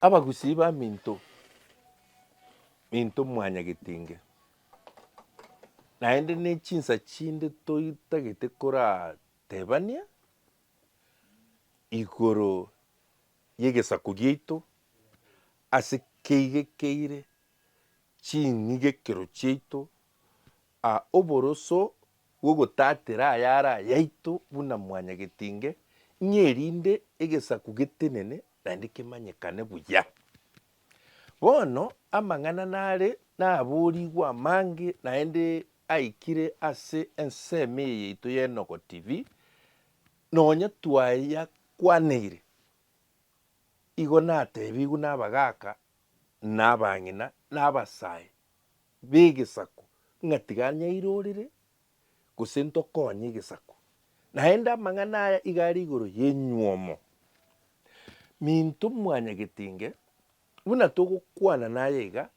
Abagusii ba Minto, Minto mwanya Getinge, naende ne chinsa chinde toitagete koratebania igoro y'egesaku giaito ase keigekeire ching'igekero chiaito, A Oboroso bw'ogotatera ayare ayaito buna mwanyagetinge, ng'a erinde egesaku getenene naende kemanyekane buya. Bono amang'ana nare naboorigwe amange naende aikire ase ensemo eye yaito ya Enogo TV, nonya twayakwaneire, igo nateebigwe nabagaaka, na abang'ina, na abasae. b'egesaku ng'a tiga anyairorere, gose ntokoonye egesaku. Naende amang'ana aya iga are igoro y'enyuomo, Minto mwanyagetinge, buna togokwana naye iga,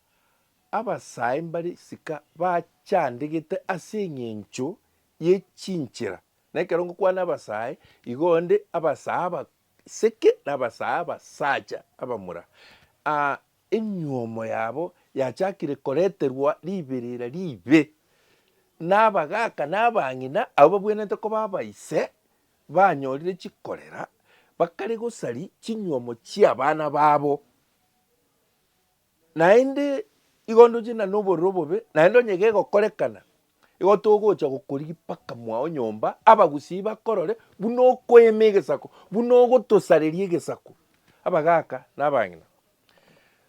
abasae mbare isika bachandegete ase eng'encho ye chinchera, na ekero ngokwana abasae, igo onde abasae abaseke na abasae abasacha abamura, aa Enyuomo yabo yachakire koreterwa riberera ribe, na abagaaka na abang'ina abwo babwenerete koba abaise banyorire chikorera bakare gosari chinyuomo chi'abana babo. Naende igo ndoche na nobororo obobe, naende onye gegokorekana, Igo togocha gokori gipaka mwao nyomba, abagusii bakorore buna okoema egesako, buna ogotosareria egesako, abagaaka na abang'ina.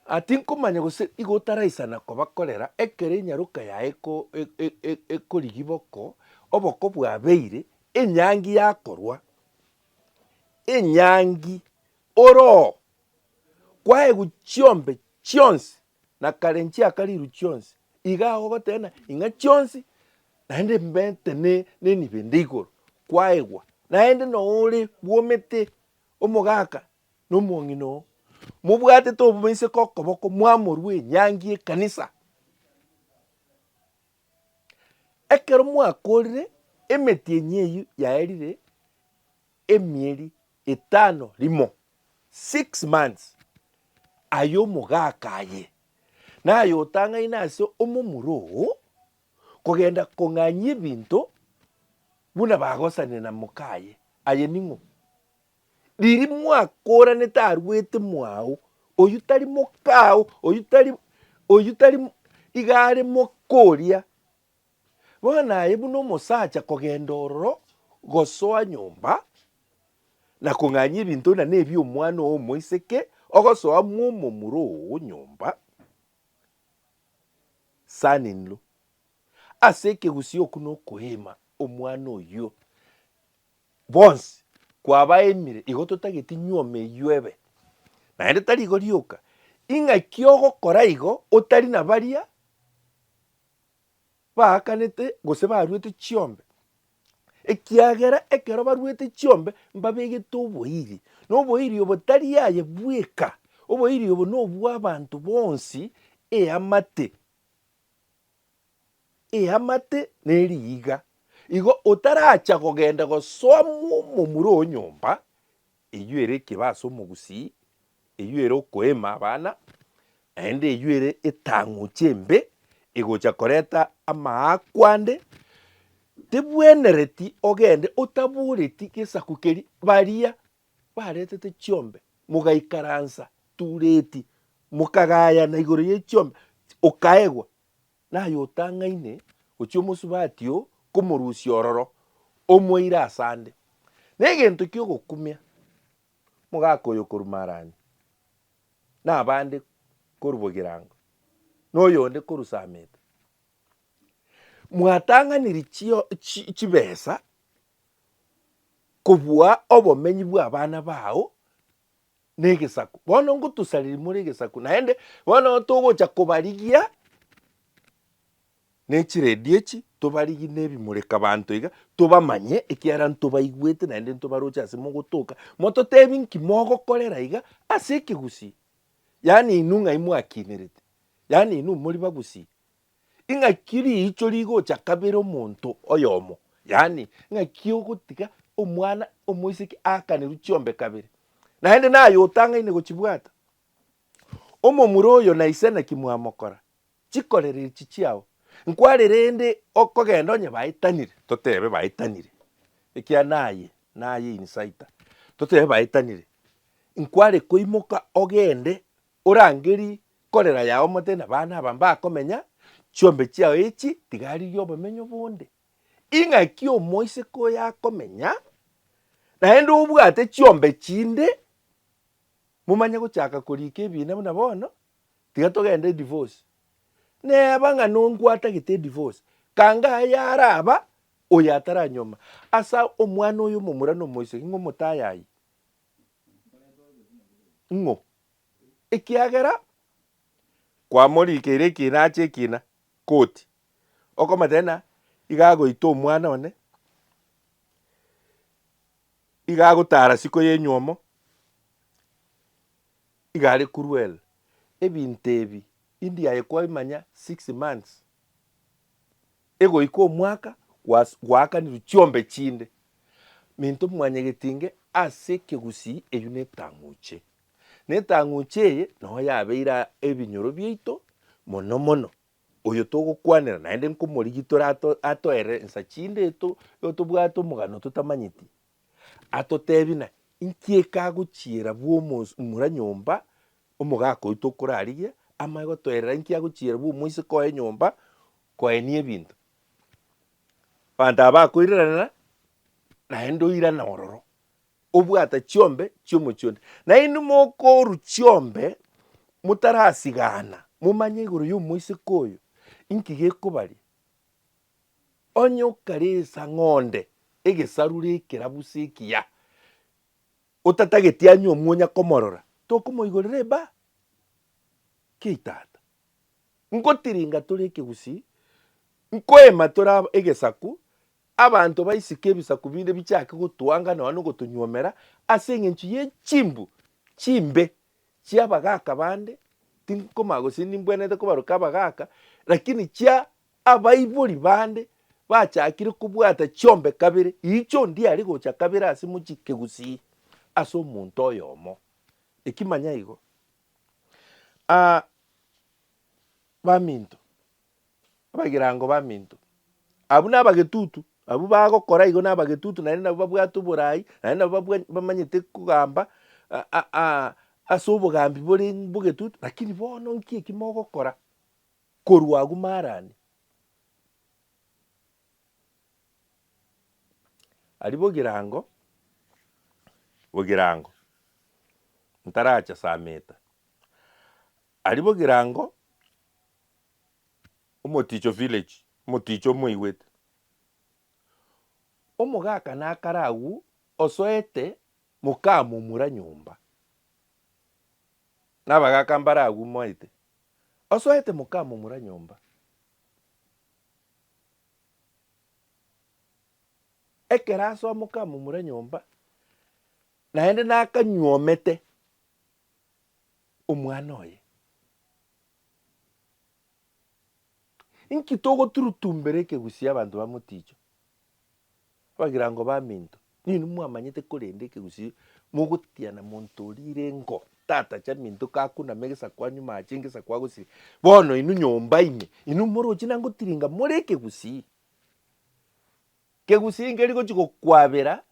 Aa tinkomanya gose igo otaraisana kobakorera ekero enyaroka yaye eko, e, e, ekorigii boko, oboko bwabeire, enyangi yakorwa, enyangi ore oo, kwaegwa chiombe chionsi na kare nchiakariru chionsi, iga agwo goteena ing'a chionsi, naende mbete ne nenibende igoro, kwaegwa, naende noore bwomete omogaka na omong'ina oo, mobwatete oboiseke okoboko mwamorua enyangi y'ekanisa. Ekero mwakorire, emeti enyia eyio yaerire. Emieri etano rimo, six months, ay'omogaaka aye, nayotang'aine ase omomura oo, kogenda kong'anyia ebinto buna bagosanire na moka aye. Aye ning'o? Riria mwakooranete arwete mwao, oyio tari mokao, oyio tari, oyio tari iga are moka oria Bono aye buna omosacha kogenda ororo gosoa nyomba, na kong'anyia ebinto buna nebi'omwana oo omoiseke, ogosoa mw'omomura oo nyomba, son in law, ase ekegusii okwo nokoeema omwana oyio. Bonsi kwabaemire igo totageti nyuoma eyio ebe, naende tari igo rioka, ing'aki ogokora igo otari na baria baakanete gose baruete chiombe, ekiagera ekero baruete chiombe mbabegete oboiri, na oboiri obo tari aye bweka, oboiri obo nobw'abanto bonsi, eamate, eamate na eriiga. Igo otaracha kogenda gosoa momura o nyomba. Eyio ere ekeba ase omogusii, eyio ere okoeema abana, naende eyio ere etang'uchi embe egocha koreta amaakwa ande, tebwenereti ogende otabooreti gesaku keria. Baria baretete chiombe mogaikaransa tureti, mokagayana igoro ye chiombe, okaegwa, Naye otang'aine gochia omosubati oo komorusia ororo, omoeire ase ande. Negento ki'ogokumia mogaka oyo korwa Marani, na abande korwa Bogirango, na oyonde korwa Sameta. Mwatang'anirie chio chi chibesa kobua obomenyi bw'abana bao. negesaku, bono ngotosareria more egesaku, naende bono togocha kobarigia nechiredio echi, tobarigie nebimureka banto iga, tobamanye ekiagera ntobaigwete naende ntobaroche ase mogotoka, mototebie nki mogokorera iga ase ekegusii, yaani inwe ng'ai mwakinerete, yaani inwe mori bagusii, Ing'aki riicho rigocha kabere omonto oyomo, yaani, ng'aki ogotiga omwana omoiseke aakanerwe chiombe kabere, naende naye otangaine gochibwata. Omomura oyo na ise naki mwamokora? Chikorera echi chiao. Nkware rende okogenda onye baetanire, totebe baetanire, ekiagera naye naye insider, totebe baetanire, nkware koimoka ogende Orangerie korera yao mote na baana aba mbakomenya, chiombe chiao echi tigaririe obomenyo bonde. Ing'aki omoiseke oyo akomenya, naende obwate chiombe chinde, momanye gochaka koriika ebiina buna bono, tiga togende edivosi. Neeba ng'a nongwatagete edivosi, kanga aye araba oyo ataranyuoma asa omwana oyo omomura na omoiseke ng'o motayayi? Ng'o? ekiagera kwamorigeire ekiina ache ekiina, koti okomotebia ng'a iga agoita omwana one, iga agotara isiko ya enywomo, iga are cruel. Ebinto ebi, india aye kwaimanya six months. Egoika omwaka gwaakanirwe chiombe chinde, minto mwanyegetinge ase ekegusii eyio netang'uche. Netang'uche eye nao yabeire ebinyoro biaito mono mono, oyo togokwanera naende nkomorigitore atoere ensa chinde eto tobwate omogano totamanyeti, atotebi na inki ekagochiera bw'omura nyomba omogaka oyio tokorarigia, amanye gotoerera inki agochiera bw'omoiseke oye nyomba Koenia ebinto. Abanto aba bakoiraranera naende oirane ororo, obwate chiombe chi'omochie onde. Na inwe mokorwa chiombe motarasigana, momanye igoro y'omoiseke oyo inki gekobaria. Onye okaresa ng'onde egesarura ekerabu se ekiya, otatageti anywe omwonya komorora, tokomoigorera eba? Kei tata. Nkotiringa tore ekegusii, nkoema tore egesaku, abanto baisike ebisaku binde bichake gotuanga nonya nogotonyuomera ase engencho ye chimbu chimbe chia abagaaka bande, tinkomanya gose nimbwenerete kobaroka abagaaka, lakini chia abaibori bande bachakire kobwata chiombe kabere, iicho ndiare gocha kabere ase mochie kegusii ase omonto oyomo. Eki manya igo. Aa, baminto, abagirango baminto, abwo nabagetutu, abwo bagokora igo nabagetutu naende nabwo babwate oborai, naende nabwo babwa- bamanyete kogamba a- a- a- ase obogambi bore bogetutu, lakini bono nki eki mogokora korwa agwo marani? Aria bogirango bogirango ntaracha sameta, aria bogirango omoticho village omoticho omoigwete, omogaka nakare agwo osoete mokamomura nyomba, na abagaka mbare agwo moete osoete mokamomura nyomba. Ekero ase omoka amomura nyomba, naende nakanyuomete omwana oye. Inki togoturutumbera ekegusii abanto bamoticho? Abagirango baminto, ninwe mwamanyete korende ekegusii mogotiana monto oria irengo tata chaminto kakunama egesaku anyuma ache ngesaku agosire bono inwe nyomba ime inwe moroche na ngotiringa more ekegusii. Kegusii nkeri gochi gokwabera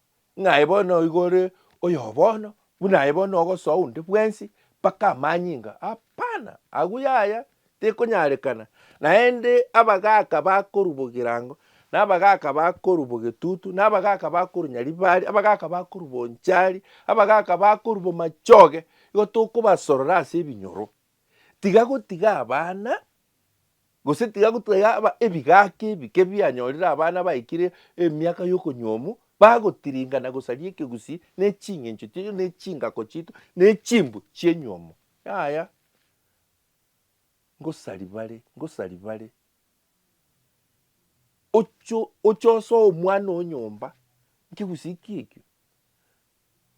ng'aye bono oigo ore oyobono Buna aye bono ogosoa onde bwensi mpaka amanyinga? Apana, agwo yaya tekonyarekana. Naende abagaaka bakorwa bogirango, na abagaaka bakorwa bogetutu, na abagaaka bakorwa nyaribari, abagaaka bakorwa bonchari, abagaaka bakorwa bomachoge, igo tokobasorora ase ebinyoro. Tiga gotiga abana Gose tiga gotwaa yaba ebigaki ebike bianyorire abana baikire emiaka y'okonyuomu, bagotiringa na gosaria ekegusii ne ching'encho chiaito ne chingako chiaito ne chimbu chi'enyuomo. Yaya, ngosaria bare, ngosaria bare. Oche, oche osoe omwana oo nyomba nkegusii ki ekio,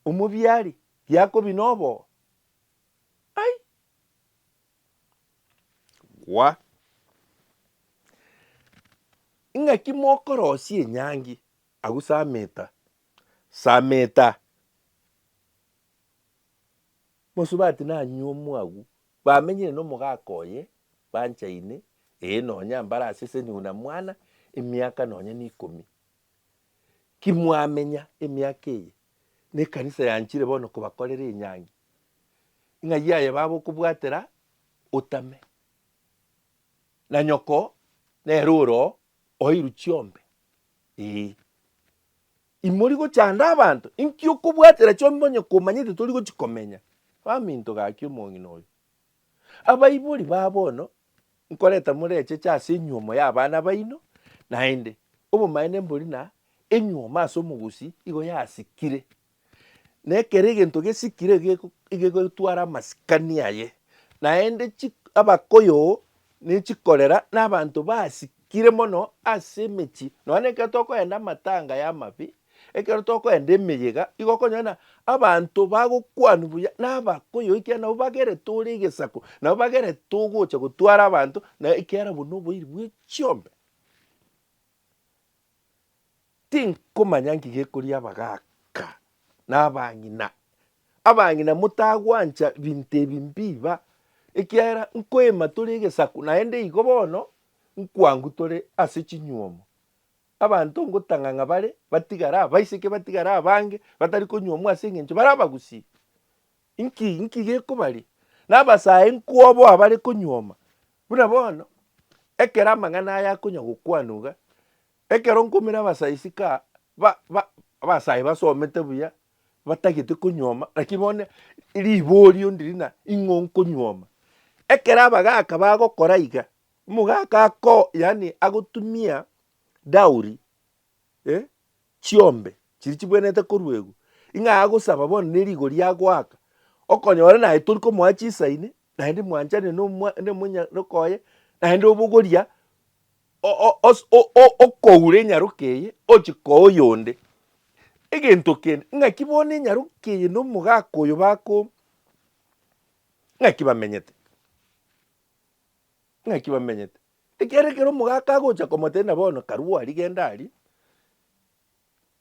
omobiari, giakobi noboo? Ai! Gwa. Ing'aki mokorosia enyangi, agwo saa meta, saa meta. Mosubati nanyuomu agwo, bamenyire nomogaka oye, banchaine, ee nonya mbare ase ase nyuna mwana, emiaka nonya ne ikomi. Ki mwamenya emiaka eye? nekanisa yanchire bono kobakorera enyangi, ng'a yaye baba okobwatera otame, na nyoko nere ore oo oeirwe chiombe, ee. Imori gochanda abanto, inki okobwatera chiombe onye komanyete tori gochi komenya? Baminto gaki omong'ina oyo. Abaibori ba bono nkoreta more echeche ase enyuomo y'abana baino, naende obomaene mbori na enyuomo ase omogusii igo yasikire, na ekero egento gesikire igegotwara amasikani aye, naende chi abakoyoo ne chikorera na abanto basikire. Kire mono ase emechie, nonya na ekero tokoenda amatanga ya amabe, ekero tokoenda emeyega, igo okonyora ng'a abanto bagokwanwa buya na abakoyoo ekiagera nabo bagerete ore egesaku, nabo bagerete ogocha gotwara abanto, na ekiagera obwo na oboiri bwe chiombe. Tinkomanya nki gekoria abagaaka na abang'ina. Abang'ina motagwancha binto ebi mbiiba, ekiagera nkoima tore egesaku, naende igo bono nkwangu tore ase chinyuomo. Abanto ngotang'a ng'a bare batigare abaiseke batigare abange batari konyuomwa ase eng'encho bare abagusii. Inki inki gekobaria? Na abasae nkwoboa abare konyuoma. Buna bono, ekero amang'ana aya akonya gokwanwa iga, Ekero nkoumire abasaisika ba, ba, abasae basomete buya, batagete konyuoma, naki bono riborio ndiri na ing'o nkonyuoma. Ekero abagaka bagokora iga, omogaka ako, yaani agotumia dowry, eh, chiombe chiria chibwenerete koruegwa, ing'a agosaba bono ne rigori agoaka, okonyora naye tori komoa chisaini, naende mwanchani na omwa, na omonya, na okoye, naende obogoria okoura enyaroka eye ochie koa oyonde. Egento kende, ng'aki bono enyaroka eye na omogaka oyo bakooma? Ng'aki bamenyete? Ng'aki bamenyete? Ekiagera ekero omogaka agocha komotebia ng'a bono karue aria genda aria,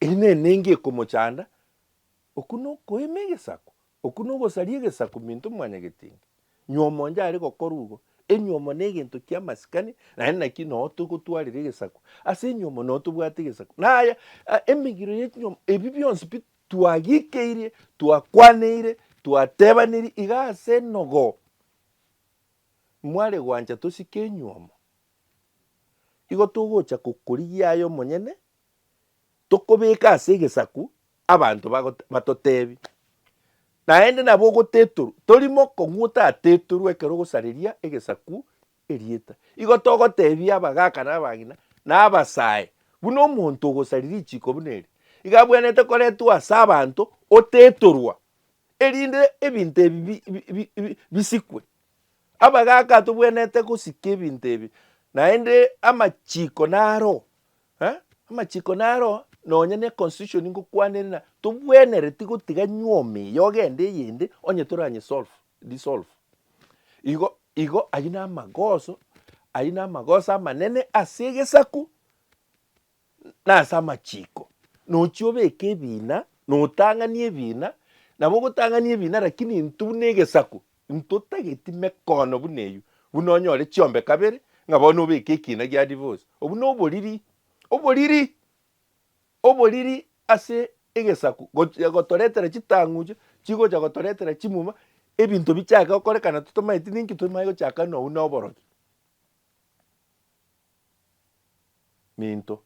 eria nere neinga ekomochanda. Okwo nokoima egesaku, okwo nogosaria egesaku minto mwanyagetenge. Nywomo onde are gokora ugo. Enywomo negento kiamasikani, naende naki noo togotwarera egesaku. Ase enywomo noo tobwate egesaku. Naya emegiro ye chinywomo ebi bionsi pi twagikeirie, twakwaneire, twatebaneiri iga ase enogo. Mware gwancha tosike enywomo, igo togocha gokorigia aye omonyene, tokobeka ase egesaku abanto bagote batotebi, naende nabo ogotetorwa, tori mokong'u otatetorwa ekero ogosareria egesaku erieta. Igo togotebia abagaka na abang'ina, na abasae, buna omonto ogosari richiko buna eri, iga abwenerete koretwa ase abanto otetorwa, erinde ebinto ebi bi bi bi bi bisikwe. Abagaka tobwenerete gosika ebinto ebi, naende amachiko naro Eh, amachiko naro nonya ne constitution ngokwana ere na tobwenereti gotiga nyuoma eye ogende eyende onye toranye solve disolve. Igo igo ayio na amagoso ayio na amagoso amanene ase egesaku na ase amachiko. Nochi obeke ebina notang'ani ebina nabo ogotang'ani ebina lakini intwe buna egesaku Ntotageti mekono buna eyio, buna onyore chiombe kabere, ng'a bono obeke ekiina gia divosi. Obwo noboriri, oboriri, oboriri ase egesaku, gochia gotoretera chitang'uche, chigocha gotoretera chimuma, ebinto bichake gokorekana totamanyeti ninki tomae gochaka ng'a obwo noborogi. Minto,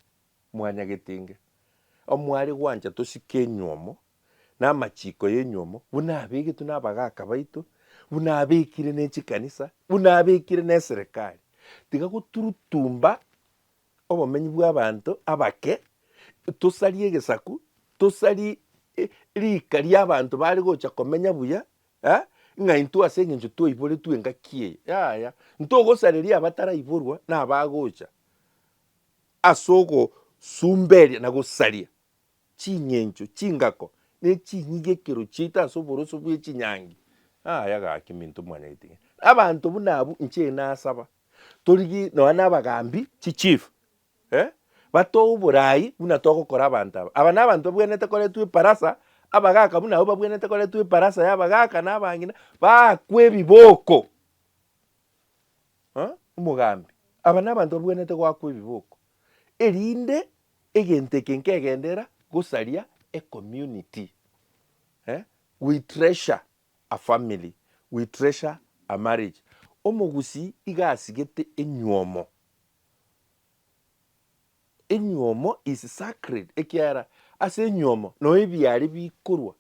mwanyagete inga omware gwancha tosike enyiomo, namachiiko y'enyuomo, buna abegetwe nabagaaka baito, buna abekire ne chikanisa, buna abekire neserekari. Tiga goturutumba obomenyi bw'abanto abake, tosarie egesaku, tosarie riika ri'abanto bare gocha komenya buya, eh, ng'a intwe ase eng'encho twaiboretwe engaki eye, yaya, ntogosareria abataraiborwa nabagocha as'ogosumberia na gosaria Ching'encho, chingako, ne chinyigekero chiaito ase oboroso bwe chinyangi. Aya gaki minto mwanyagete ng'a abanto buna abwo inche nasaba. Torigie nonya na abagambi, chi chief, eh, batoe oborai buna togokora abanto aba. Aba na abanto babwenerete koretwa eparasa, abagaka buna abwo babwenerete koretwa eparasa ya abagaka na abang'ina, baakwe ebiboko. Huh? Omogambi, aba na abanto babwenerete goakwa ebiboko, erinde Egento eke nkegenderera gosaria e community. Eh, we treasure a family, we treasure a marriage. Omogusii iga asigete enywomo. Enywomo is sacred ekiagera ase enywomo noo ebiaare bikorwa,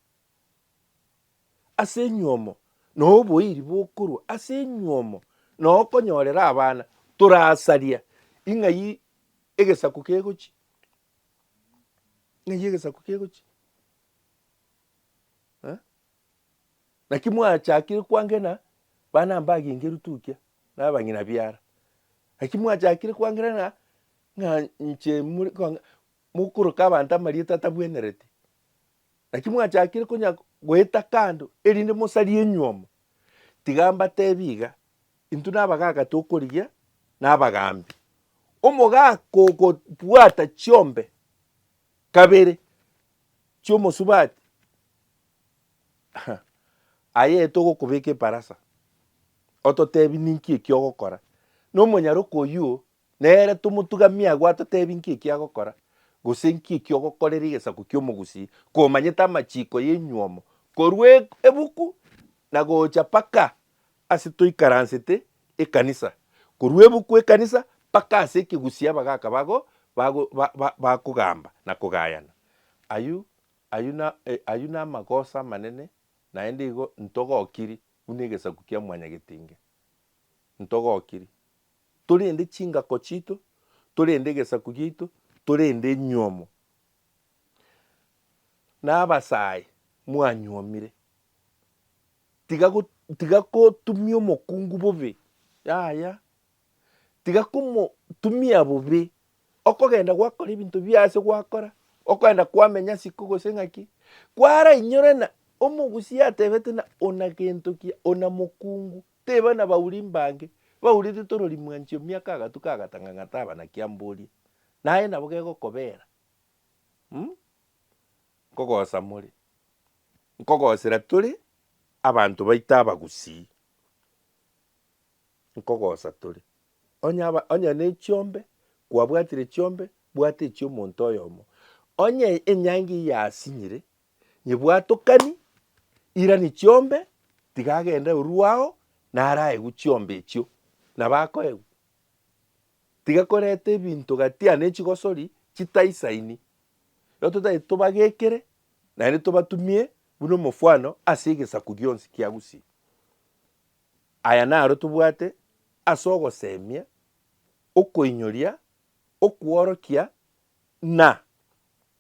ase enywomo noo oboiri bokorwa, ase enywomo noo okonyorera abana. Torasaria ing'ai Egesaku kegochi, ng'ai egesaku kegochi? Eh? Naki mwachakire kwangena bana mbagengeru tukia na abang'ina biara. Naki mwachakire kwangena ng'a ng'a inche muri- kwanga- mokoroka abanto amarieta atabwenereti. Naki mwachakire konya goeta kando erinde mosarie enyuomo? Tiga mbateebie iga, intwe nabagaaka tokorigia nabagambi. Omogaaka ogobwata chiombe kabere chi'omosubati, aye togokobeka ebarasa, ototeebie ninki eki'ogokora, na omonyaroko oyio Nere tomotugamie agwo atoteebie nki ekio agokora, gose nki ekio ogokorera egesaku ki'omogusii, komanyete amachiiko y'enyuomo korwa ebuku na gocha mpaka ase toikaransete ekanisa, korwa ebuku ekanisa mpaka ase ekegusii abagaaka bago bakogamba na kogayana. Ayio ayio na ayio namagoso amanene naende igo ntogokiri buna egesaku kia mwanyagetinge, ntogokiri. torende chingako chiito, torende egesaku giaito, torende enyuomo. Na abasae mwanyuomire, tiga go, tiga kotumia omokungu bobe, yaya, tiga komotumia bobe, okogenda gwakora ebinto bia ase gwakora, okogenda kwamenya ase iko gose ng'aki, kwarainyore na omogusia atebete na ona gento ki, ona mokungu. Teba nabauri mbange, baurete torori mwanchio miaka agatu kagatanga ng'a taba naki amborie. Naye nabo gegokobera, um, nkogosa more, nkogosera tore abanto baito abagusii, nkogosa tore. Onye aba onye nechiombe, kwabwatire chiombe, bwata echiomonto oyomo. Onye enyangi eyasinyire, nyebwatokani, irani chiombe, tiga agende oruu ao, naraegwe chiombe echio, nabo akoegwa. Tiga koreta ebinto gatia ne chigosori chitaisaini, igo totaete tobagekere naende tobatumie buna omofwano ase egesaku gionsi kia Gusii. Aya naro tobwate ase ogosemia, okoinyoria, okworokia na.